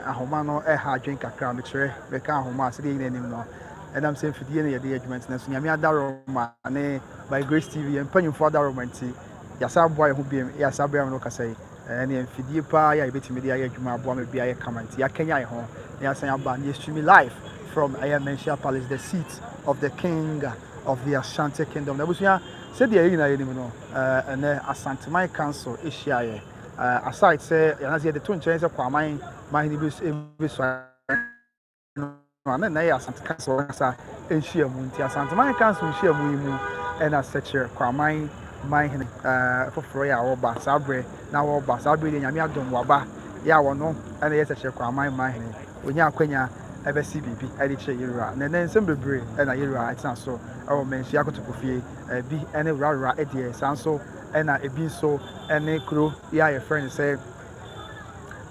Ahoma no ha adwene kakra, mekyerɛ, bɛka ahoma a sɛdeɛ yɛn nyinaa nim no, ɛnam sɛ mfidie na yɛde yɛ adwuma nti, nanso Nyame adaworoma ne By Grace TV, yɛn mpanyimfoɔ adaworoma nti, yɛasan aboa yɛn ho biom, yes, aberɛ a me ne wo kasa yi, ɛneɛ mfidie paa yɛ a yɛbɛtumi de ayɛ adwuma aboa ma biribi ayɛ kama nti, yɛakanyan yɛn ho na yɛasan aba na yɛstreami live from ɛyɛ Manhyia Palace, the seat of the king of the Ashanti Kingdom. Na abusua, sɛdeɛ yɛn nyinaa yɛnim no, ɛnɛ Asanteman Council hyiaeɛ, Uh, aside sɛ yɛnase yɛde to nkyɛn sɛ kwaman mahene bi bɛsua no a na ɛnna yɛ asante council ankasa nhyiamu nti asanteman council nhyiamu yi mu ɛna sɛkyerɛ kwaman manhene uh, foforɔ yɛ a wɔba saa berɛ na wɔba saa berɛ deɛ nyame adom waba yɛ a wɔno ɛna yɛ sɛkyerɛ kwaman manhene ɔnya akwanya ɛbɛsi biribi ɛde kyerɛ yɛwura na ɛnɛ nsɛm bebree ɛna yɛwura ɛtena so ɛwɔ mansua kotokofie bi ɛne wurawura ɛdeɛ saa nso ɛna ebi nso ne kuro yi a yɛfrɛ no sɛ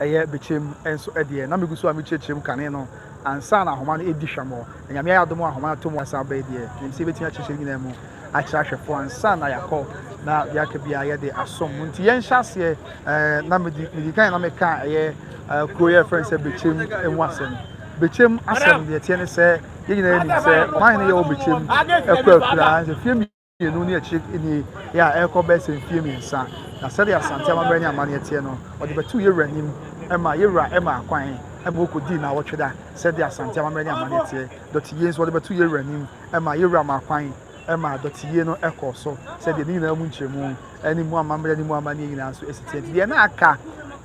ɛyɛ Bekyem nso deɛ. Na megu so a mekyerɛkyerɛ mu kane no ansa na ahoma no ɛdi hwammɔ. Na Nyame ayɛ adom a ahoma no ato mu asa aba yi deɛ, menim sɛ yɛbɛtumi akyerɛkyerɛ nyinaa mu akyerɛ ahwɛfoɔ ansa na yɛakɔ na biaka biara yɛde asom mu. Nti yɛnhyɛ aseɛ ɛɛ na medi medi kan na meka ɛyɛ ɛɛ kuro yɛfrɛ no sɛ Bekyem ɛmu asɛm. Bekyem asɛm deɛ ɛteɛ ne sɛ yɛn nyinaa nim sɛ ɔman hene yɛwɔ Bekyem ɛkɔ akuraa nso fie mmienu ne akyire nie yɛ a ɛrekɔ bɛyɛ sɛ mfeɛ mmiɛnsa, na sɛdeɛ Asante amammerɛ ne amanneɛ teɛ no, ɔde bɛtoo Yɛwura anim ma Yɛwura maa kwan ma ɔkɔdii nnawɔtwe da. Sɛdeɛ Asante amammerɛ ne amanneɛ teɛ, dɔteyie nso, wɔde bɛtoo Yɛwura anim ma Yɛwura maa kwan ma dɔteyie no kɔɔ so. Sɛdeɛ ne nyinaa mu nkyerɛmu ne mu amammerɛ ne mu amanneɛ nyinaa nso si teɛ nti, deɛ na aka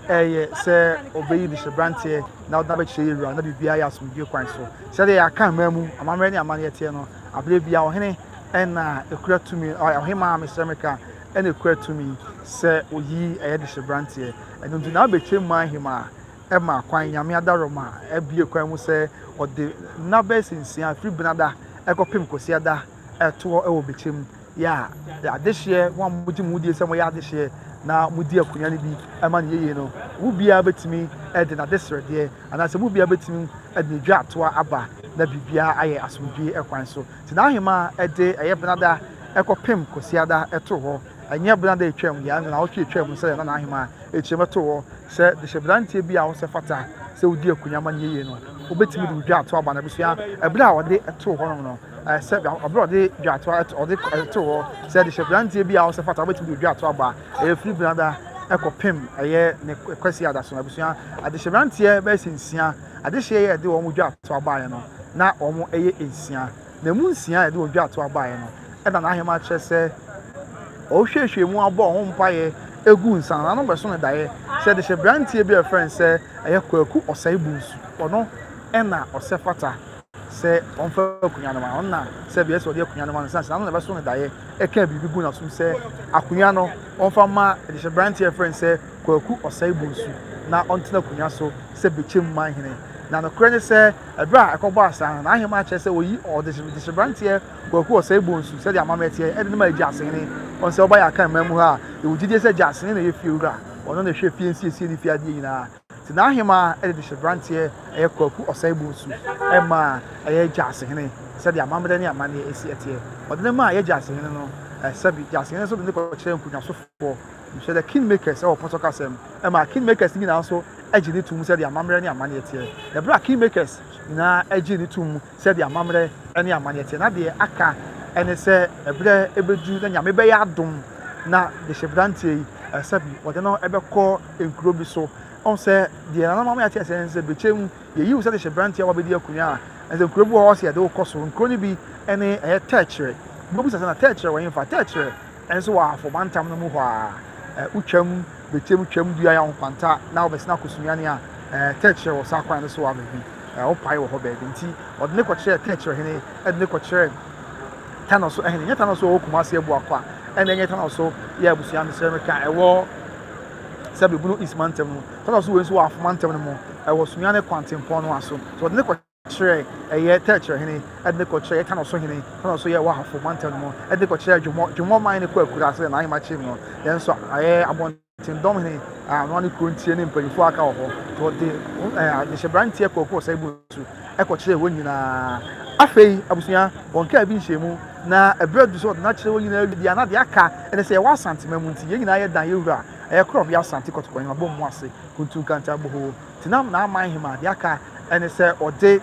ɛyɛ sɛ ɔbɛyi de hyɛberanteɛ na ɔde no abɛkyerɛ Yɛwura na biribiara yɛ asomdwoeɛ kwan so. Sɛdeɛ yɛaka mmaa mu amammerɛ ne amanneɛ teɛ no, aberɛ biara ɔhene ɛna ɛkura tumi ɔhemaa mesrɛ me ka ɛna ɛkura tumi sɛ oyi ɛyɛ de hyɛ branteɛ ɛno nti na abɛtwa mu ahemaa ɛma kwan nyame adaroma ɛbie kwan mu sɛ ɔde nna bɛyɛ sɛ nsia firi benada ɛkɔpem kwasiada ɛtoɔ ɛwɔ bɛkyɛ mu yɛ a adehyeɛ wɔn a mogye mo die sɛ moyɛ adehyeɛ na modi akonnwa no bi ɛma no yɛyie no mu biara bɛtumi ɛde n'ade srɛdeɛ anaasɛ mu biara bɛtumi ɛde ne dwa atoa aba na biribiara ayɛ asomdwie ɛkwan so Nti n'ahemaa de ɛyɛ Benada kɔpem Kwasiada too hɔ, ɛnyɛ Benada etwaam deɛ ansa naawɔtwe etwaam no sɛdeɛ na n'ahemaa rekyerɛ bɛtoo hɔ sɛ dehyɛberanteɛ bi a ɔsɛ fata sɛ odi akunya ma neyie no ɔbɛtumi de odwaatoa aba n'abusua ɛberɛ a ɔde too hɔnom no sɛ ɛberɛ a ɔde dwaatoa ɔde too hɔ sɛ dehyɛberanteɛ bi a ɔsɛ fata ɔbɛtumi de odwaatoa aba ɛyɛ firi Benada kɔpem ɛyɛ ne Kwasiada so n'abusua adehyɛberanteɛ bɛyɛ sɛ nsia adehyeɛ yɛ ɛde wɔn dwatoa baeɛ no, na wɔn yɛ nsia. Na ɛmu nsia a ɛde wɔn dwatoa baeɛ no, ɛna n'ahema kyerɛ sɛ ɔhwehwɛ mu abɔ wɔn mpaeɛ egu nsa na ano bɛso no daeɛ sɛ de hyɛ branteɛ bi a ɛfrɛ no sɛ ɛyɛ kwaku ɔsɛe bunsu ɔno ɛna ɔsɛ fata sɛ ɔmfa akonnwa no ma ɔno na sɛ bia sɛ ɔde akonnwa no ma no sɛ ano na ɛbɛso no daeɛ ɛka biribi gu n'asom sɛ akonnwa no ɔmfa ma de hyɛ branteɛ ɛfrɛ no sɛ Kwaku Osae-Bonsu na ɔntena akonnwa so sɛ Bekyem man hene. Na nokorɛ ne sɛ, ɛberɛ a ɛkɔbɔɔ asaa no, n'aheman kyerɛ sɛ ɔyi ɔdehyeberanteɛ Kwaku Osae-Bonsu, sɛdeɛ amammerɛ teɛ, de no maa Agyasehene. Ɔno sɛ ɔba yɛ Akan man mu ha a, yɛwɔ gyidie sɛ Agyasehene na ɛyɛ fiewura, ɔno na ɛhwɛ fie nsiesie ne fie adeɛ nyinaa. Nti n'aheman de dehyeberanteɛ a ɛyɛ Kwaku Osae-Bonsu maa y'Agyasehene, sɛdeɛ amammerɛ ne amanneɛ si teɛ. Ɔde no maa y'Agyasehene no, sɛbi, Gyasehene nso de no kɔkyerɛɛ nkonnwasofoɔ. Hwɛ The Kingmakers wɔ Pɔtɔ kasa mu ma Kingmakers no nyinaa nso gye no tom sɛdeɛ amammerɛ ne amanneɛ teɛ. Ɛberɛ a Kingmakers nyinaa gyee no tom sɛdeɛ amammerɛ ne amanneɛ teɛ, na deɛ aka ne sɛ ɛberɛ bɛdu na Nyame bɛyɛ adom na dehyeberanteɛ yi sɛbi wɔde no bɛkɔ nkuro bi so. Ɔhu sɛ deɛ nana maame ate asɛ ne sɛ bɛkyɛ mu yɛyi wo sɛ dehyeberanteɛ a wabɛdi akonya a ɛsɛ nkuro bi wɔ hɔ sɛ yɛde wo kɔ so. Nkuro no bi ne ɛyɛ tɛɛkyerɛ. Wobɛbisa sɛ na tɛɛkyerɛ wɔ he fa? Tɛɛkyerɛ Nso wɔ Ahafo Mantam no mu hɔ ara, eh, wo Twam betiam Twam dua yɛ ahokwanta na wo bɛsena akɔ Sunyani a, eh, tɛkyerɛ wɔ saa kwan no so wɔ baabi, eh, wo pae wɔ hɔ baabi. Nti wɔde no kɔkyerɛɛ tɛkyerɛ hene, ɛde no kɔkyerɛɛ Tanɔso ɛhene. Nyɛ Tanɔso a ɔwɔ Kumasi abua kwa, ɛna ɛnyɛ Tanɔso yɛ abusua no srɛ me ka ɛwɔ Sɛbe Bono East Mantam no mu. Tanɔso wei nso wɔ Ahafo Mantam no mu, ɛwɔ Sunyani kwan tempɔn no a so. So wɔde no kɔ. kyerɛ ɛyɛ Tɛkyerɛ hene, ɛde ne kɔkyerɛ ɛyɛ Kano so hene, Kano so yɛ Wahafo mantam no mu, ɛde ne kɔkyerɛ Dwomɔ, Dwomɔ man ne kɔ akura sɛ n'ahemmakyem no, yɛn nso ɛyɛ abɔnten dɔm hene a ɔno ne kuro ntie ne mpanyinfoɔ aka wɔ hɔ, nti ɔde nhyɛberanteɛ kɔɔkɔɔ sɛ bu nsu ɛkɔkyerɛ wɔn nyinaa. Afei abusua, wɔn kaa bi nhyɛmu, na ɛberɛ du sɛ ɔde n'akyerɛ wɔn nyinaa wie a na deɛ aka ɛne sɛ yɛwɔ Asantema mu nti yɛn nyinaa yɛ dan yɛ wura ɛyɛ korɔbea Asante kɔtɔkɔ ahemabɔ mu ase, Kuntu Nkanta Bohoo. Denam n'aman hema deɛ aka ne sɛ ɔde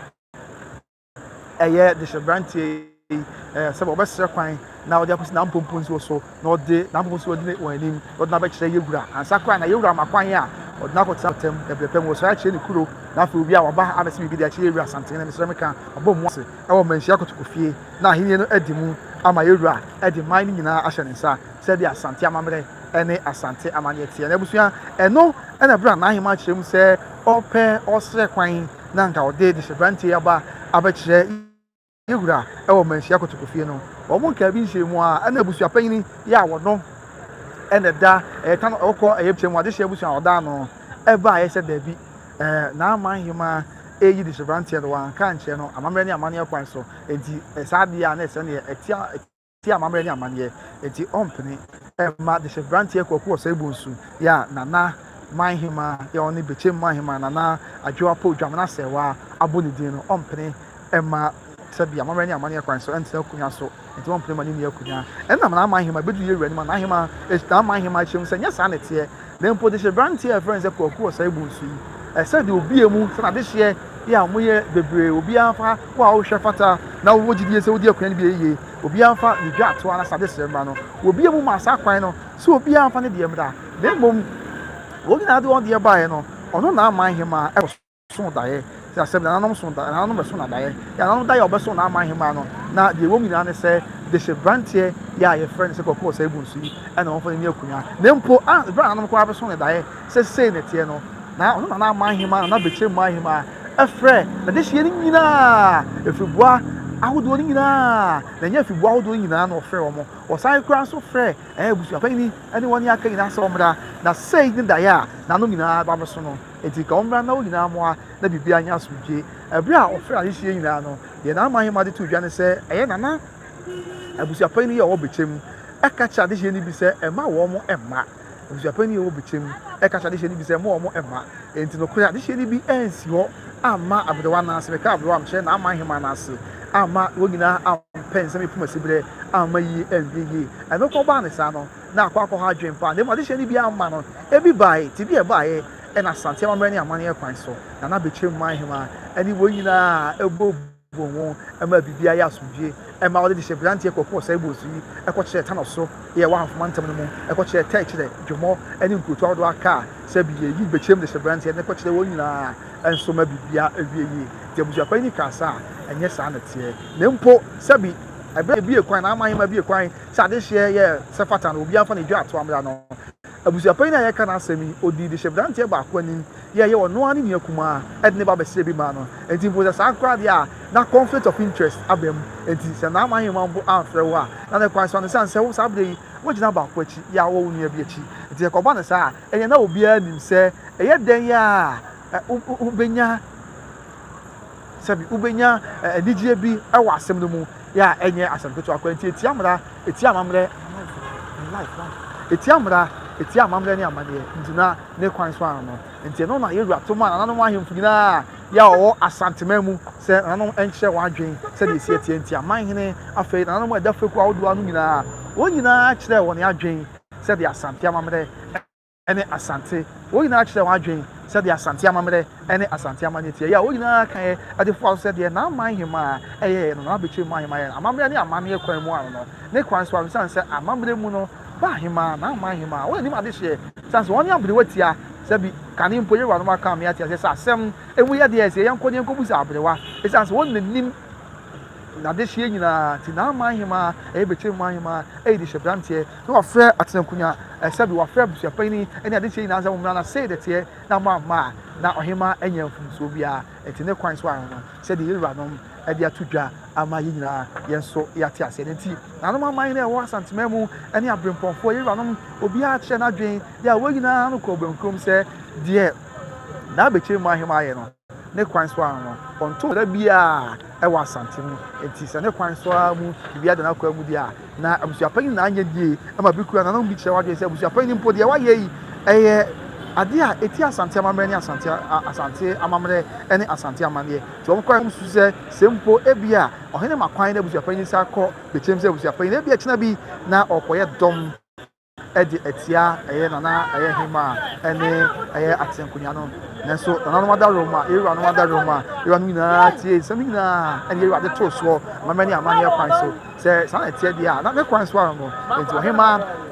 ɛyɛ dehyeberanteɛ yi ɛɛ sɛ ɔbɛsrɛ kwan na ɔde akɔsi n'ampomponsuo so na ɔde n'ampomponsuo adi wɔn anim na ɔde n'abɛkyerɛ yɛwura ansa koraa na yɛwura ma kwan a ɔde n'akɔtena ɔtam ɛbrɛ pɛ mu ɔsrɛ akyerɛ ne kuro na afei obi a waba ha abɛsɛ biribi de akyerɛ yɛwura asantene na mesrɛ meka ɔbɔ mu ase ɛwɔ mmanhyia kotokofie na ahenni no adi mu ama yɛwura ɛde man no nyinaa ahyɛ ne nsa sɛdeɛ Asante amammerɛ ne Asante amanneɛ teɛ. N'abusua, ɛno na berɛ a n'ahemmaa kyerɛ mu sɛ ɔrepɛ, ɔresrɛ kwan na anka ɔde dehyebrante yi aba abɛkyerɛ yɛn wura wɔ Manhyia Kotokofie no. Wɔn nkaa bi nhyiamu mu ara na abusuapanyin yi a wɔno na ɛda ɛyɛ ta no ɔkɔ ɛyɛ kyɛ mu adehyeɛ abusua a ɔda ano ɛbaeɛ sɛ daabi n'ama ahemmaa ɛyi dehyebrante no wanka ankyerɛ no amammerɛ ne amanneɛ kwan so. Enti saa adeɛ a na ɛsɛ neɛ ɛte tia amammerɛ ne amanneɛ, enti ɔmpene mma dehye beranteɛ Kwaku Ɔsɛebonsu yi a Nana Manhema yi a ɔne Bekyem Manhema, Nana Adwoapow Dwamena Asɛɛwa abɔ ne din no, ɔmpene mma sɛbi amammerɛ ne amanneɛ kwan so ntena akonnwa so, enti ɔmpene mma no nni akonnwa. Ɛnna Nana Manhema bɛduru Yɛwuranom Ananhema, Nana Manhema akyiri mu sɛ, Nyɛ saa na ɛteɛ! Na mpo dehyeberanteɛ a yɛfrɛ no sɛ Kwaku Osei-Bonsu yi, ɛsɛ deɛ obi a mu sɛ n'adehyeɛ yɛ a wɔyɛ bebree, obiara mfa wo a wohwɛ fata na wowɔ gyidie sɛ wodi akonnwa no bi a yiye, obiara mfa ne dwaatoa na sade srɛ mmra no. Obi a mu maa saa kwan no sɛ obiara mfa ne deɛ mmra, na mmom wɔn nyinaa de wɔn deɛ baeɛ no, ɔno na aman hemaa kɔ so. so daeɛ. Sɛ asɛm nananom so da, nananom bɛso no daeɛ. Yɛ nananom daeɛ a wɔbɛso no aman hemaa no. Na deɛ ɛwɔ mu nyinaa ne sɛ, de hyɛ branteɛ yɛ a yɛfrɛ no sɛ kɔkɔɔ saa egu nsu yi, ɛna wɔmfa no nyɛ akunya. Na mpo, a ɛberɛ a nananom koraa bɛso no daeɛ sɛ sei na ɛteɛ no, na ɔno nana aman hemaa, nana bɛkyɛ mu ahemaa, ɛfrɛ n'adehyeɛ no nyinaa, afiriboa ahodoɔ no nyinaa, na ɛnyɛ afiriboa ahodoɔ no nyinaa na wɔfrɛ wɔn. Wɔsan koraa nso frɛ ɛɛ abusuapanyini ne wɔn aka nyinaa sɛ wɔmmra. Na sei ne daeɛ a nananom nyinaa ba bɛso no. Enti ka ɔmmra na wo nyinaa mmoa na biribiara nyɛ asomdwoe. Bere a wɔfrɛɛ adehye yi nyinaa no, deɛ Nana Mahima de too dwa ne sɛ ɛyɛ Nana abusuapanyin yi a ɔwɔ Bekyem ka kyerɛ adehyeɛ no bi sɛ mma wɔn mma. Abusuapanyin yi a ɔwɔ Bekyem ka kyerɛ adehyeɛ no bi sɛ mma wɔn mma. Enti nokorɛ, adehyeɛ no bi ansi hɔ amma aberewa no ase. Meka aberewa a, mekyerɛ Nana Mahima no ase amma wɔn nyinaa ampɛ nsɛm yi fam asiberɛ amma yie, andue yie. Ɛno nko baa ne saa no, na akɔ akɔha adwene pa, na mmom adehyeɛ no biara mma no. Ebi baeɛ, te bi a ɛbaeɛ na Asante amammerɛ ne amanneɛ kwan so, na na Bekyem man hemaa ne wɔn nyinaa bɔ bom ho ma biribiara yɛ asomdwoeɛ. Ɛmaa wɔde dehyeɛberanteɛ kɔkɔɔ Ɔsɛebɔsu yi kɔkyerɛɛ Tano so, yɛ wɔ Ahafo mantam no mu, kɔkyerɛɛ Tɛɛ kyerɛ Dwomɔ ne nkurotoɔ ahodoɔ aka a sɛ bi yɛyi Bekyem dehyeɛberanteɛ no kɔkyerɛ wɔn nyinaa nso ma biribiara awie yie. Te abusuakuo yi ne kaa saa a, ɛnyɛ saa na ɛteɛ. Na mpo sɛ bi ɛberɛ a bi yɛ kwan, na aman hemaa bi yɛ kwan sɛ adehyeɛ yɛ sɛ fata no obiara mfa ne dwa to amena no. Abusuapanyin a yɛreka n'asɛm yi, odii dehyɛbranteɛ baako anim yɛɛ yɛ ɔno ara ne nua kumaa de ne ba bɛsrɛ bi maa no. Enti mpo sɛ saa koraa deɛ a, na conflict of interest aba mu. Enti sɛ Naaman hemman mpo amfrɛ wo a, na ne kwan so ara no, esiane sɛ wo saa berɛ yi woagyina baako akyi yɛ a wowɔ wo nua bi akyi nti, sɛ ɛkɔba no saa a, ɛnneɛ na obiara nim sɛ ɛyɛ dɛn a wobɛnya Sɛbi wobenya anigye bi wɔ asɛm no mu a ɛnyɛ asɛm ketewa koraa. Enti etia mmara, etia amammerɛ, etia mmara, etia amammerɛ ne amanneɛ nti na ne kwan so ano no. Enti ɛno na Yosua to maa nananom ahemfo nyinaa yɛ a wɔwɔ Asanteman mu sɛ nananom nkyerɛ wɔn adwene sɛdeɛ ɛsi ateɛ nti aman hene afei nananom a ɛda fekuo ahodoɔ ano nyinaa wɔn nyinaa kyerɛɛ wɔn adwene sɛdeɛ Asante amammerɛ ne Asante. Wɔn nyinaa kyerɛɛ wɔn adwene sɛdeɛ Asante amammerɛ ne Asante amanneɛ teɛ yɛ a wɔn nyinaa kaeɛ de foaa so sɛ deɛ Naaman hemaa yɛeɛ no na wɔabɛkyerɛ mu ahemaa yɛ no amammerɛ ne amanneɛ kwan mu ano no ne kwan so ano sane sɛ amammerɛ mu no ba hemaa Naaman hemaa wɔn anim adehyeɛ sane sɛ wɔn ne aberewa tia sɛ bi kane mpo yɛwuranom aka me ate aseɛ sɛ asɛm emu yɛ deɛ sɛ yɛnkɔ ne yɛnkɔbu sɛ aberewa ɛsane sɛ wɔn na nim n'adehyeɛ nyinaa nti Naaman hemaa ɛyɛ bɛkyerɛ mu ahemaa ɛyɛ de hyɛ branteɛ Na wafrɛ atenankonnwa, ɛsɛ bi wafrɛ abusuapanyin ne ade nkyerɛ nyinaa sɛ mommra na sei na ɛteɛ, na moamma a, na ɔhemmaa anya mfomsoɔ biara. Enti ne kwan so ara no, sɛdeɛ yɛn wuranom de ato dwa ama yɛn nyinaa yɛn nso yɛate aseɛ no nti, nanom aman no a ɛwɔ Asanteman mu ne aberempɔnfoɔ, yɛn wuranom, obiara kyerɛɛ n'adwene yɛ a wɔn nyinaa ano kɔɔ bɔnkurom sɛ deɛ n'abakyire mma ahemmaa yɛ no. Ne kwan so ara no, ɔntoo da biara wɔ Asante mu. Enti sɛ ne kwan so ara mu biribiara da n'akwaa mu deɛ a, na abusuapɛn no nyinaa nyɛ die ma bi kura. Nanom bi kyerɛ w'adwene sɛ abusuapɛn no mpo deɛ wayɛ yi ɛyɛ adeɛ a ɛti Asante amammerɛ ne Asante Asante amammerɛ ne Asante amanneɛ. Nti wɔn kwan mu susu sɛ sɛ mpo ebi a ɔhene ma kwan na abusuapɛn no san kɔ bɛkyɛm sɛ abusuapɛn na ebi a ɛkyena bi na ɔrekɔyɛ dɔm. de atia ɛyɛ nana ɛyɛ hema ɛne ɛyɛ atenkonya no nanso nananom adarom a yɛwuranom adarom a yɛwuranom nyinaa tie nsɛm nyinaa ɛne yɛwura de too soɔ amamɛ ne amanneɛ kwan so sɛ saa na ɛteɛ deɛ a na ne kwan so ara no nti ɔhema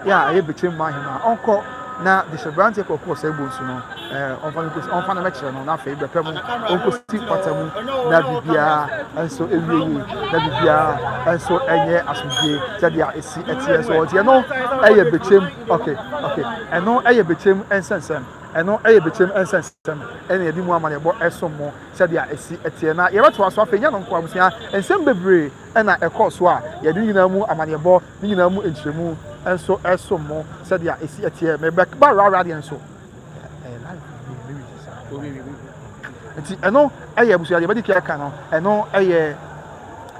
yɛ a ɛyɛ bɛkyɛ mu ahema ɔnkɔ na de hyɛ berante kɔkɔɔ sɛ bonsu no Ɛɛ, ɔmfa no nkosi, ɔmfa no mɛkyerɛ no, na afei bɛpɛ mu, ɔnkosi pata mu, na biribiara nso ɛwie yie, na biribiara nso ɛnyɛ asomdwie sɛdeɛ ɛsi ɛteɛ so ɔnti. Ɛno ɛyɛ bɛkyɛm, ok, ok, ɛno ɛyɛ bɛkyɛm nsɛnsɛm, ɛno ɛyɛ bɛkyɛm nsɛnsɛm ɛna yɛde mu amanneɛbɔ ɛsom mo sɛdeɛ ɛsi ɛteɛ. Na yɛbɛtoa so afei, nyɛ no nko abusua, nsɛm bebree ɛna ɛkɔɔ so a yɛde ne nyinaa mu amanneɛbɔ, ne nyinaa mu nkyerɛmu nso ɛsom mo sɛdeɛ ɛsi ɛteɛ. Mebɛba rara deɛ nso. nti ɛno ɛyɛ abusua deɛ bɛdi kia ka no ɛno ɛyɛ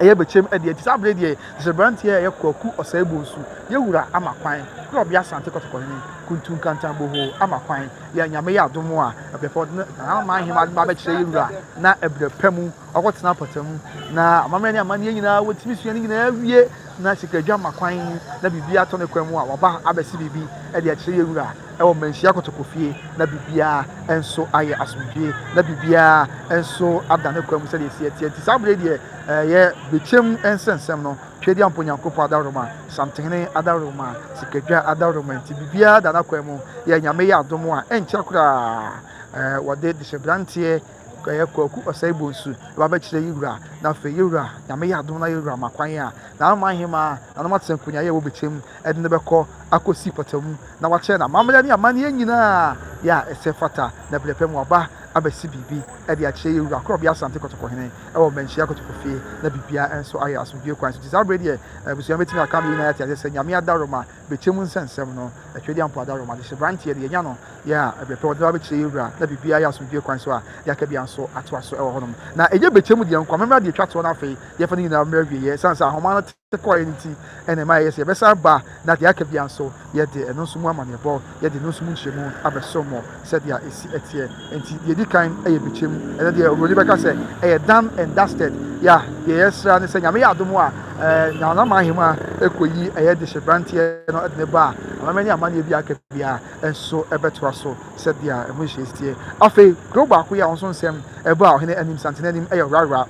ɛyɛ bɛkyɛm ɛdeɛ nti saa bere deɛ sɛ aberanteɛ a ɛyɛ kwaku ɔsɛe bu nsu yɛwura ama kwan na ɔbea asante kɔtɔkɔ ne kuntu nkantan boho ama kwan yɛ nyame yɛ adom a ɛbɛfɔ ama ahema adoma bɛkyerɛ yɛwura na ɛbrɛ pɛ mu ɔkɔtena pɔtɛ mu na amammerɛ ne amanneɛ nyinaa wɔtumi sua ne nyinaa wie na sikadwa ma kwan na biribi atɔ ne kwan mu a wɔba abɛsi biribi ɛde akyerɛ yɛwura wɔ manhyia kotokofie na biribiara nso ayɛ asomdwoeɛ na biribiara nso ada ne kwan mu sɛdeɛ ɛsi ɛteɛ nti saa berɛ deɛ ɛyɛ bɛkyɛm nsɛnsɛm no Twedeɛmpo Nyankopɔn adaworoma Samtenhene adaworoma Sikadwa adaworoma nti biribiara da n'akwan mu yɛ Nyame yɛ adom a ɛnkyɛ koraa wɔde dehyɛbranteɛ ɛyɛ Kwaku Osei-Bonsu ba bɛkyerɛ yi wura. Na afei yi wura, Nyame yɛ adom na yi wura ma kwan a, n'aman hemaa, nanom atenko nyaeɛ wɔ bɛkyɛm ɛde no bɛkɔ akɔsi pɔtamu na wakyerɛ n'amammerɛ ne amanneɛ nyinaa yɛ a ɛsɛ fata. Na berɛ pɛ mu waba abɛsi biribi ɛde akyerɛ yi wura Korɔbea Asante Kɔtɔkɔhene ɛwɔ Manhyia Kɔtɔkɔfie na biribiara nso ayɛ asomdwoeɛ kwan so. Nti saa berɛ deɛ abusua bɛtumi aka ama yi nyinaa ate aseɛ sɛ Nyame adaworoma Bɛkyɛ mu nsɛnsɛm no, Twɛdeɛ a mpo ada awerɛhom adehye branteɛ de yɛnya no yɛ a ɛberɛ pɛ ɔde no abɛkyerɛ yɛn wura na biribiara yɛ asomdwoeɛ kwan so a yɛaka biara nso atoa so wɔ hɔnom na ɛnyɛ bɛkyɛ mu deɛ nko amemmerɛ deɛ ɛtwa toɔ na afei yɛmfa no nyinaa mmerɛ awieɛ ɛsiane sɛ ahoma no te kɔeɛ no nti ɛna ɛma ɛyɛ sɛ yɛbɛsan ba na deɛ aka biara nso yɛde ɛno nso mu amanneɛbɔ yɛde no so mu nkyerɛmu abɛso mo sɛdeɛ ɛsi teɛ. Enti deɛ ɛdi kan yɛ bɛkyɛm. Ɛnɛ deɛ Oburoni bɛka sɛ ɛyɛ done and dusted. Ya, deɛ yɛsra ne sɛ Nyame yɛ adom a ɛɛ Nana Mahima ɛkɔyi ɛyɛ de hyɛ branteɛ no de ne ba a amammerɛ ne amanneɛ bi aka biara nso ɛbɛtoa so sɛdeɛ ɛho nhyehyɛɛ. Afei, kuro baako yi a wɔn nso nsɛm ɛbaa ɔhene anim, Santenanim, ɛyɛ Rarah.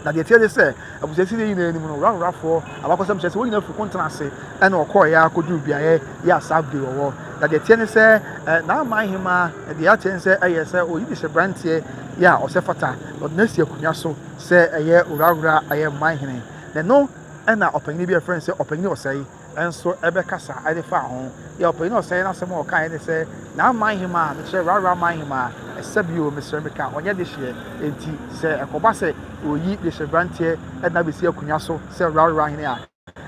Na deɛ ɛteɛ ne sɛ, abusuasin yi nyinaa anim no, Rarurafoɔ abakɔsɛm kyerɛ sɛ wɔn nyinaa firi ko ntena ase na wɔkɔɔ yɛ akɔduru beaeɛ yɛ a saa bere wɔwɔ. Na deɛ ɛteɛ ne sɛ, n'aman hemaa, deɛ ateɛ ne sɛ ɛyɛ sɛ ɔyi de hyɛ branteɛ yɛ a ɔsɛ fata, na ɔde no asi akonnwa so sɛ ɛyɛ Rarura ayɛ man hene. Na ɛno na ɔpanyin bi a yɛfrɛ no sɛ ɔpanyin ɔsɛe nso bɛkasa de faa ho. Yɛ ɔpanyin a ɔsɛe n'asɛm a ɔkae ne sɛ, Na aman hemmaa, mekyerɛ, rara aman hemmaa, ɛsɛ bio, mesrɛ meka, ɔnyɛ dehyeɛ. Enti sɛ ɛkɔba sɛ wɔyi dehyeɛberanteɛ de no abɛsi akonnwa so sɛ rara hene a,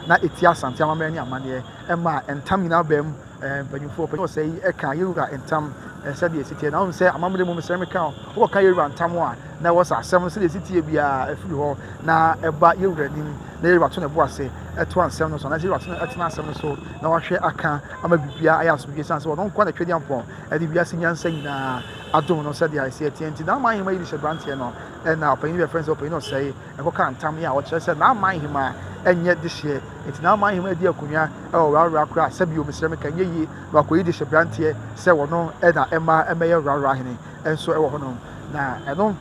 na ɛtia Asante amammerɛ ne amanneɛ, ɛma ntam nyinaa baa mu. Mpanyimfo ɔpanyin ɔsɛe yi ka Yehowa ntam sɛnea esi teɛ, na wohu sɛ amammerɛ mu mesrɛ meka o, wɔka Yehowa ntam a, na wɔsa asɛm no sɛnea esi teɛ biara firi hɔ na ɛba Yehowa anim, na Yehowa to ne bo ase toa nsɛm no so, anaasɛ Yehowa tena asɛm no so na wahwɛ aka ama biribiara ayɛ asomdwoe, esiane sɛ ɔno nko na Twɛdeampɔn de wiase nyansa nyinaa adom no sɛnea esi teɛ nti. N'aman ahemman yi de hyɛ aberanteɛ no, ɛnna ɔpanyin no bɛfrɛ no sɛ ɔpanyin ɔsɛe. ɛkɔkaa ntam yi a ɔkyerɛ sɛ n'aman hemmaa nyɛ dehyeɛ, enti n'aman hemmaa di akonnwa wɔ Rarora koraa, sɛbio, mesrɛ me ka nyɛ yie, na wakɔyi dehyeɛ branteɛ sɛ wɔno na ɛmma ɛmmɛyɛ Rarora hene nso wɔ hɔnom. Na ɛno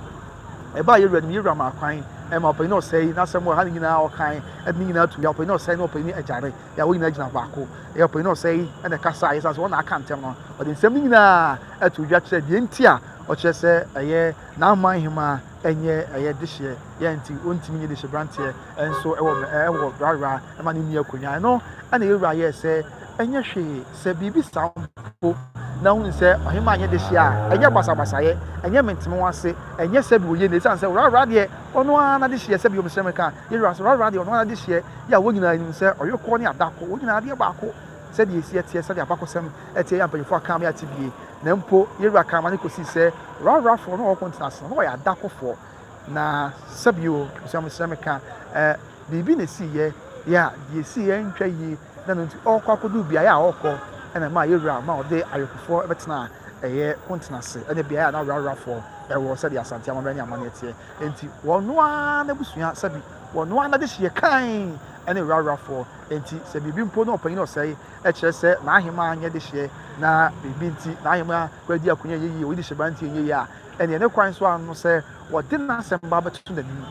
ɛbaa Yeroboam anim, Yeroboam maa kwan ma ɔpanyin no ɔsɛe, n'asɛm wɔ ha no nyinaa ɔkae, ɛde ne nyinaa tu ya, ɔpanyin no ɔsɛe ne ɔpanyin no agyare, yɛ a wɔn nyinaa gyina baako, ɛyɛ ɔpanyin no ɔsɛe na ɛkasa a yɛsan sɛ wɔn na aka ntɛm no, ɔde nsɛm no nyinaa to dwa kyerɛ deɛ nti a ɔkyerɛ sɛ ɛyɛ n'aman hemmaa. nyɛ ɛyɛ dehyeɛ yɛ nti ɔntumi nyɛ dehyeɛberanteɛ nso ɛwɔ ɛwɔ rara ɛma ne nua konya ɛno ɛna yɛwura yɛ sɛ ɛnyɛ hwee sɛ biribi saa mpo na hunu sɛ ɔhema nyɛ dehyeɛ a ɛnyɛ basabasayɛ ɛnyɛ menteme ho ase ɛnyɛ sɛ bi wɔyɛ ne ɛsiane sɛ rara deɛ ɔno ara na dehyeɛ sɛ bi ɔmesrɛ meka yɛwura sɛ rara deɛ ɔno ara dehyeɛ yɛ a wɔn nyinaa nim sɛ ɔyɔkɔ ne adako wɔn nyinaa adeɛ baako Sɛdeɛ esie teɛ, sɛdeɛ abakɔsɛm teɛ yi a mpanyinfoɔ akaa me ate bie, na mpo yewura kaa ma no kɔsii sɛ Rarafoɔ no a wɔwɔ Kontin ase no, na wɔyɛ adakofoɔ. Na sɛbi o, abusua mesrɛ me ka ɛ, biribi na esiiɛ yɛ a deɛ esiiɛ antwa yie, na ɛno nti ɔɔkɔ akɔduru beaeɛ a ɔɔkɔ ɛna ɛmaa yewura ma ɔde awekofoɔ bɛtenaa ɛyɛ Kontin ase ɛne beaeɛ a na Rarafoɔ ɛwɔ sɛdeɛ Asante amammerɛ ne amanneɛ teɛ. Enti wɔn ara n'abusua sɛbi wɔn ara n'adehyeɛ kann ɛne Rarafoɔ Enti sɛ biribi mpo na ɔpanyin a ɔsɛe, ɛkyerɛ sɛ n'aheman nyɛ dehyeɛ, na biribi nti n'aheman kura di akonya a ɛnyɛ yiye, oyi de hyɛ bra nti ɛnyɛ yiye a, ɛnneɛ ne kwan so ara no sɛ wɔde n'asɛm ba bɛtoto n'anim,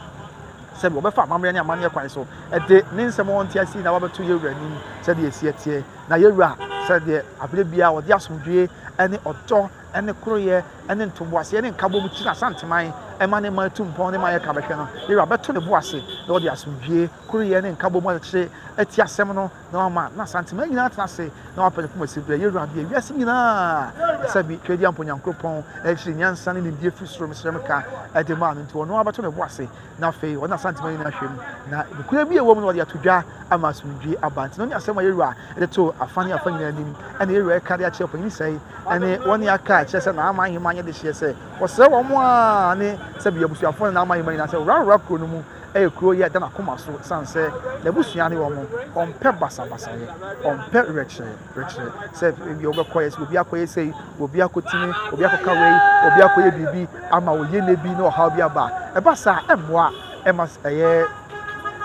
sɛdeɛ wɔbɛfa amammerɛ ne amanneɛ kwan so de ne nsɛm a ɔnte ase nyinaa ba bɛto yɛn wura anim, sɛdeɛ ɛsi teɛ, na yɛn wura, sɛdeɛ aberɛ biara ɔde asomdwoeɛ ne ɔdɔ. ne koroyɛ ne ntoboaseɛ ne nkabom gyina Asanteman ma ne man tu mpɔn ne ma yɛka bɛhwɛ no, Yɛwura bɛto ne bo ase na ɔde asomdwie, koroyɛ ne nkabom akyekyere ati asɛm no na wama na Asanteman nyinaa atena ase na wapɛ ne koma siberɛ. Yɛwura abue wiase nyinaa ɛsɛ bi Twedeampɔ Nyankoropɔn akyiri nyansa ne nimdeɛ firi soro mesrɛ meka de maa no nti ɔno ara bɛto ne bo ase na afei ɔne Asantema nyinaa hwɛ mu, na nokorɛ bi a ɛwɔ mu no ɔde ato dwa ama asomdwie aba. Nti no ne asɛm a Yɛwura de too afa ne afa nyinaa anim ɛna Yɛwura ɛka de akyerɛ ɔpanyin sɛe ɛne wɔne aka akyerɛ sɛ Naaman ahemmaa nyɛ dehyeɛ sɛ wɔsrɛ wɔn a ne sɛbi abusuafoɔ ne Naaman ahemmaa nyinaa sɛ wɔwurawura kuro no mu ɛyɛ kuro yɛ ɛda n'akoma so ɛsiane sɛ n'abusua ne wɔn ɔmpɛ basabasayɛ ɔmpɛ werɛkyerɛ rekyerɛ sɛ ebi wɔbɛkɔyɛ sɛ obi akɔyɛ sɛ obi akɔtumi obi akɔka wei obi akɔyɛ biribi ama wɔyɛ ne bi na ɔhaw bi aba ɛba saa ɛmmoa ɛma ɛyɛ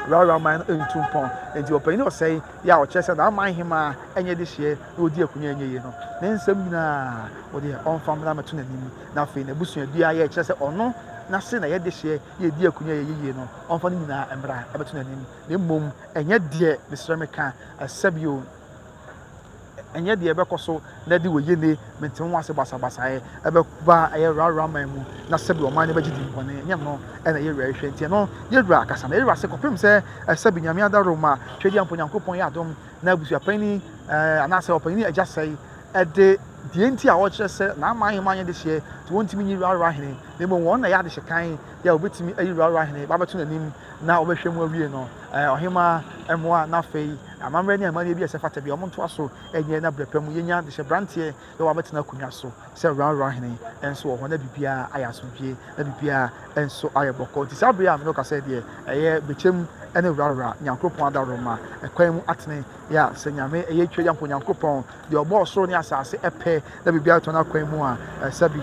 rawra man no ntu mpɔn nti ɔpanyin na ɔsɛe yɛ a ɔkyerɛ sɛ n'aman hemaa ɛnyɛ de hyeɛ na ɔdi akonnwa ɛnyɛ yie no ne nsɛm nyinaa wɔde ɔmfa mmra mɛto n'anim na afei n'abusua bi a yɛ kyerɛ sɛ ɔno n'ase na yɛde hyeɛ yɛdi akonnwa yɛ yie no ɔmfa no nyinaa mmra ɛbɛto n'anim na mmom ɛnyɛ deɛ mesrɛ meka ɛsɛ bio Ɛnyɛ deɛ ɛbɛkɔ so na ɛde wɔ yene mente ho ase basabasayɛ ɛbɛba ɛyɛ rara man mu na sɛbi ɔman no bɛgye din bɔne ɛnyɛ no ɛna yɛwura ɛhwɛ nti ɛno yɛwura akasa na yɛwura ase kɔpem sɛ ɛsɛbi nyame adaro ma twɛdi ampo nyankopɔn yɛ adom na abusuapan ni ɛɛ anaasɛ ɔpan ni agya sɛe ɛde deɛ nti a ɔkyerɛ sɛ na ama ahema yɛ de hyeɛ nti wɔntumi nyi rara hene na mmom wɔn na yɛ adehyɛ kan yɛ a wɔbɛtumi ayi rara hene babɛto n'anim na wɔbɛhwɛ mu awie no ɛɛ ɔhema mmoa na afei Amammerɛ ne amanneɛ bi a ɛsɛ fata bi a wɔntoa so nyɛ na berɛ pa mu yɛnya de hyɛ branteɛ na wabɛtena akonnwa so sɛ Ranran hene nso wɔ hɔ na biribiara ayɛ asomdwie na biribiara nso ayɛ bɔkɔ nti saa berɛ a mene wo kasɛ deɛ ɛyɛ bɛkyɛm ne Ranran Nyankoropɔn adaworoma ɛkwan mu atene yɛ a sɛ Nyame ɛyɛ twa Yankopɔn Nyankoropɔn deɛ ɔbɔɔ soro ne asase ɛpɛ na biribiara tɔ no akwan mu a ɛsɛ bi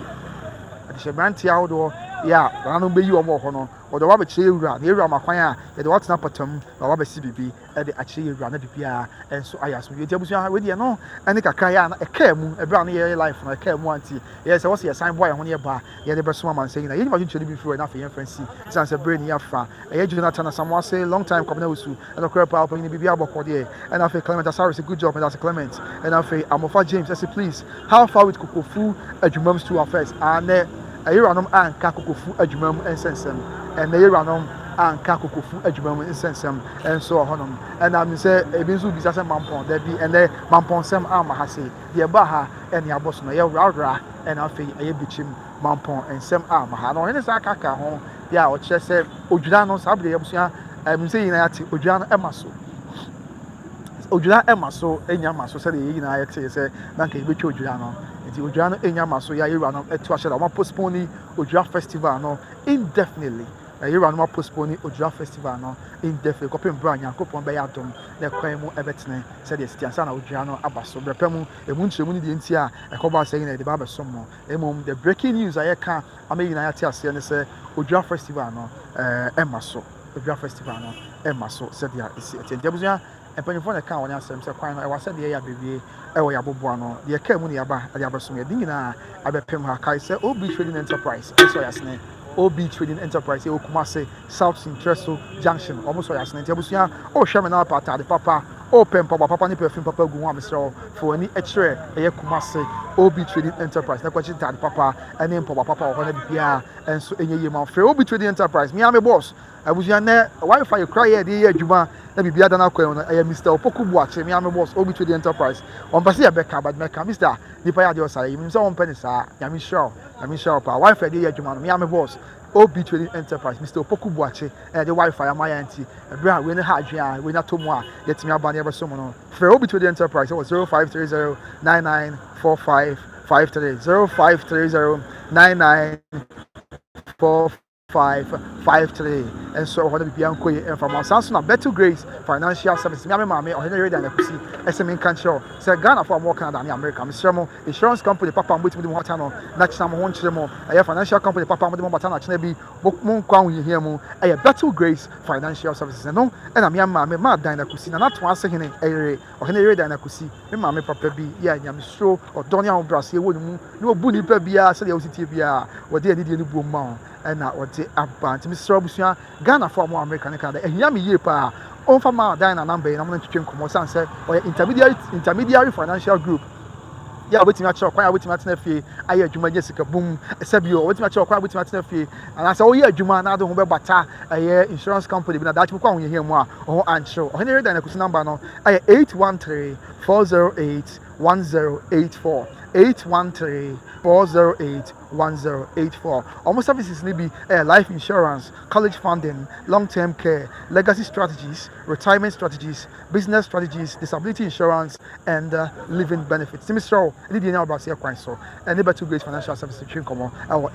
de hyɛ branteɛ ahodoɔ yɛ a nananom bɛyi wɔn wɔ hɔ no wɔde wɔn abɛkyerɛ yɛ wura na yɛ wura ma kwan a yɛde wɔn atena pɔtam na wɔn abɛsi biribi de akyerɛ yɛn wura no de biara nso ayɛ asomdwe nti abusua ha wei deɛ no ɛne kakra yɛ a na ɛkaa mu ɛberɛ a no yɛyɛ life no ɛkaa mu a nti yɛyɛ sɛ wɔsɛ yɛsan boa yɛn ho ne yɛba a yɛde bɛsoma ma nsɛ nyina yɛnyim adwenkyerɛ no bi firi hɔ ɛna afei yɛmfa nsi ɛsiane sɛ berɛ ni afa ɛyɛ Jonathan Asamoase long time Kwabena Osu ɛna korɛ paa ɔpanyini biribi abɔkɔ deɛ ɛna afei Clement Asare sɛ good job meda sɛ Clement ɛna afei Amofa James ɛsɛ please how far with kokofu adwumam stool affairs anɛ Yeranom anka kokofu adwuma mu nsɛnsɛm. Ɛnnɛ yeranom anka kokofu adwuma mu nsɛnsɛm nso wɔ hɔnom. Ɛnna me sɛ ebi nso bisa sɛ mampɔn. Dabi, ɛnnɛ mampɔnsɛm amma ha sei. Deɛ ɛbaa ha ne abɔso no, ɛyɛ horahoraa na afei ɛyɛ bikyim. Mampɔn nsɛm amma ha. Na ɔhene san ka kaa ho deɛ a ɔkyerɛ sɛ odwira no saa bere yi abusua, menim sɛ yɛn nyinaa yɛate odwira no ma so. odwira mma so nnya mma so sɛdeɛ yɛn nyinaa yɛtee sɛ na nka yɛbɛtwa odwira no nti odwira no nnya mma so yɛ ayɛwura no ɛto ahyɛ da wɔn postpone odwira festival no indefinitely ayɛwura no wɔn postpone odwira festival no indefinitely kɔpem bere a nyankopɔn bɛyɛ adom na ɛkwan mu ɛbɛtene sɛdeɛ ɛsiti ansa na odwira no aba so brɛpɛ mu emu nkyerɛmu ne deɛ nti a ɛkɔbɔ asɛ nyinaa yɛde ba abɛsom mo mmom the breaking news a yɛka ama yɛn nyinaa yɛate aseɛ ne sɛ odwira festival no ɛɛ ɛma so. Adwa festival no rema so sɛdeɛ ɛsi ɛteɛ nti abusua mpanyinfoɔ na ɛkaa wɔn asɛm sɛ kwan no ɛwɔ sɛdeɛ yɛ abɛwie ɛwɔ yɛ aboboa no deɛ ɛkaa mu na yɛaba ɛde abɛsom yɛde nyinaa abɛpem ha kae sɛ OB Trading Enterprise ɛsɔ yɛ asene OB Trading Enterprise ɛwɔ Kumase South Sintreso Junction wɔn sɔ yɛ asene nti abusua ɔrehwɛ me na wapɛ ataade papa ɔrepɛ mpaboa papa ne perfume papa gu ho a mesrɛ wo fa w'ani kyerɛ ɛyɛ Kumase OB Trading Enterprise na kɔkye ntaade papa ɛne mpaboa papa wɔ hɔ na biribiara Nso ɛnyɛ yie ma wo frɛ obi trading enterprise me ara me boss abusua nɛ wifi yɛkura yɛ ɛde yɛ adwuma na biribi ada no akwan no ɛyɛ Mister Opoku Boakye me ara me boss obi trading enterprise ɔmpɛ sɛ yɛbɛka but mɛka Mister nipa yɛ adeɛ ɔsa yɛ menim sɛ ɔmpɛ ne saa nyame nhyira wo nyame nhyira wo paa wifi ɛde yɛ adwuma no me ara me boss obi trading enterprise Mister Opoku Boakye ɛna ɛde wifi ama yɛn nti ɛberɛ a wei no ha adwene a wei no atɔ mu a yɛtumi aba na yɛbɛsom no frɛ obi trading enterprise wɔ 0530 9945 Five three zero five three zero nine nine four five five three nso ɛwɔ hɔ no biribiara nkɔ yie ɛmfa ma saa nso na Betty Grace financial services mi ame maame ɔhene yere dan akusi ɛsɛ mi nka nkyerɛ sɛ Ghanafoɔ a wɔwɔ Canada ne America mesrɛ mo insurance company papa mo bɛtumi de mo ho ata no na kyena mo ho nkyerɛ mo ɛyɛ financial company papa mo de mo bata no akyena bi mo nkɔ ahohiahia mu ɛyɛ Betty Grace financial services ɛno ɛna mi ame maame ma dan akusi na n'ato ase hene ɛyere Ɔhene Yoiada na Kusi, me maame papa bi yɛ a nyamesuro, ɔdɔ ne ahobrɛaseɛ wɔ ne mu, na ɔbu nnipa biara sɛdeɛ wosi teɛ biara, wɔde anidie no buom ma wɔn na wɔde aba. Nti mesrɛ abusua, Ghanafoɔ a wɔwɔ Amerika ne Canada, ɛhia me yie paa, wɔmfa mma Diana namba yi na wɔne no ntwetwe nkɔmmɔ, ɛsiane sɛ ɔyɛ intermediary, intermediary financial group. Yɛ a wobɛtumi akyerɛ ɔkwan a wobɛtumi atena fie ayɛ adwuma nya sika bum. Ɛsɛ bio, wobɛtumi akyerɛ ɔkwan a wobɛtumi atena fie anaasɛ woyɛ adwuma na ade ho bɛbata ɛyɛ insurance company bi na daakye bɛkɔ ahohiahia mu a wo ho ankyerɛw. Ɔhene Herodan Akusi namba no ɛyɛ 813 408 1084 813 408 1084. Wɔn services no bi ɛyɛ life insurance, college funding, long term care, legacy strategies, retirement strategies, Business Strategies, Disability Insurance and Living Benefits nti mesrɛ wo ɛde deɛ ɛnya wo braseɛ kwan so ɛne Battle Grace Financial Services twe nkɔmmɔ ɛwɔ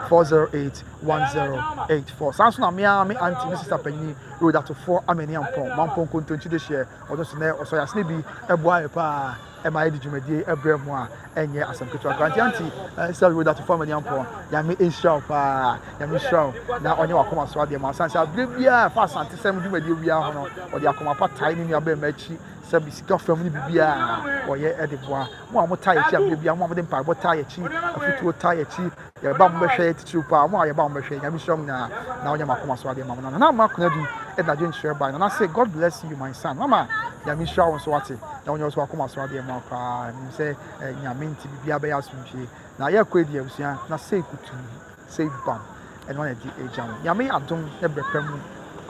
813-408-1084 saa nso na me ara me auntie me sister panyin Rhoda Tofoɔ Amania Mpɔn Mampɔn Kontonkyi Dehyeɛ ɔno nso nɛ ɔsɔ yɛasene bi ɛboa yɛ paa ɛma yɛde dwumadie yi brɛ mo a ɛnyɛ asɛm ketewa koraa nti anti sɛ woda to fam ani ampɔn nyame nhyira wo paa nyame nhyira wo na ɔnyɛ wakoma so adeɛ ma ɔsan sɛ aberɛ biara fa asante sɛm dwumadie biara ho no ɔde akoma pa tae ne nuabɛn ma akyi sɛ sika fam ne biribiara ɔyɛ de boa mo a mo tae akyi aberɛ biara mo a mode mpaebɔ tae akyi afutuo tae akyi Yɛreba mo bɛhwɛ yɛ titiriw paa mo a yɛba mo bɛhwɛ nyame nhyira mo nyinaa na ɔnyɛ mo akoma so adeɛ ma mo nana nana ma kuna di ɛna dwen kyerɛ bae nana se God bless you my son mama nyame nhyira wo nso wate na ɔnyɛ wo so akoma so adeɛ ma koraa nim sɛ eh, nyame nti bibia bɛyɛ asomdwie na yɛkɔ adi abusua na sei kutu sei bam ɛno ana di agya mo nyame adom ne brɛpɛ mu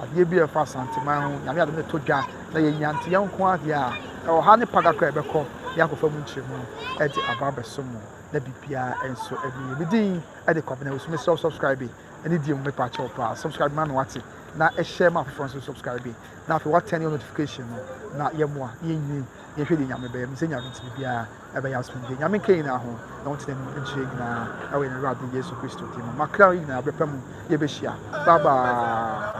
adeɛ bi a ɛfa asanteman ho nyame adom ne to dwa na yɛnya nte yɛn nko adeɛ a ɛwɔ ha ne paga kora ɛbɛkɔ yɛakɔfa mu nkyerɛmu ɛde aba bɛso mu na biribiara nso ɛde yɛ me din ɛde kɔ abena wosumi sɛ subscribe ɛne deɛ mu mepa kyɛw paa subscribe ma no ate na ɛhyɛ ma afoforɔ nso subscribe na afei watɛn yɛ notification no na yɛmmoa na yɛnyini yɛhwɛ deɛ nyame bɛyɛ me sɛ nyame nti biribiara ɛbɛyɛ asomdwe nyame nka nyinaa ho na wɔntena anim nkyerɛ nyinaa ɛwɔ yɛn awurade yesu kristo din mu makra nyinaa bɛpɛ mu yɛbɛhyia bye bye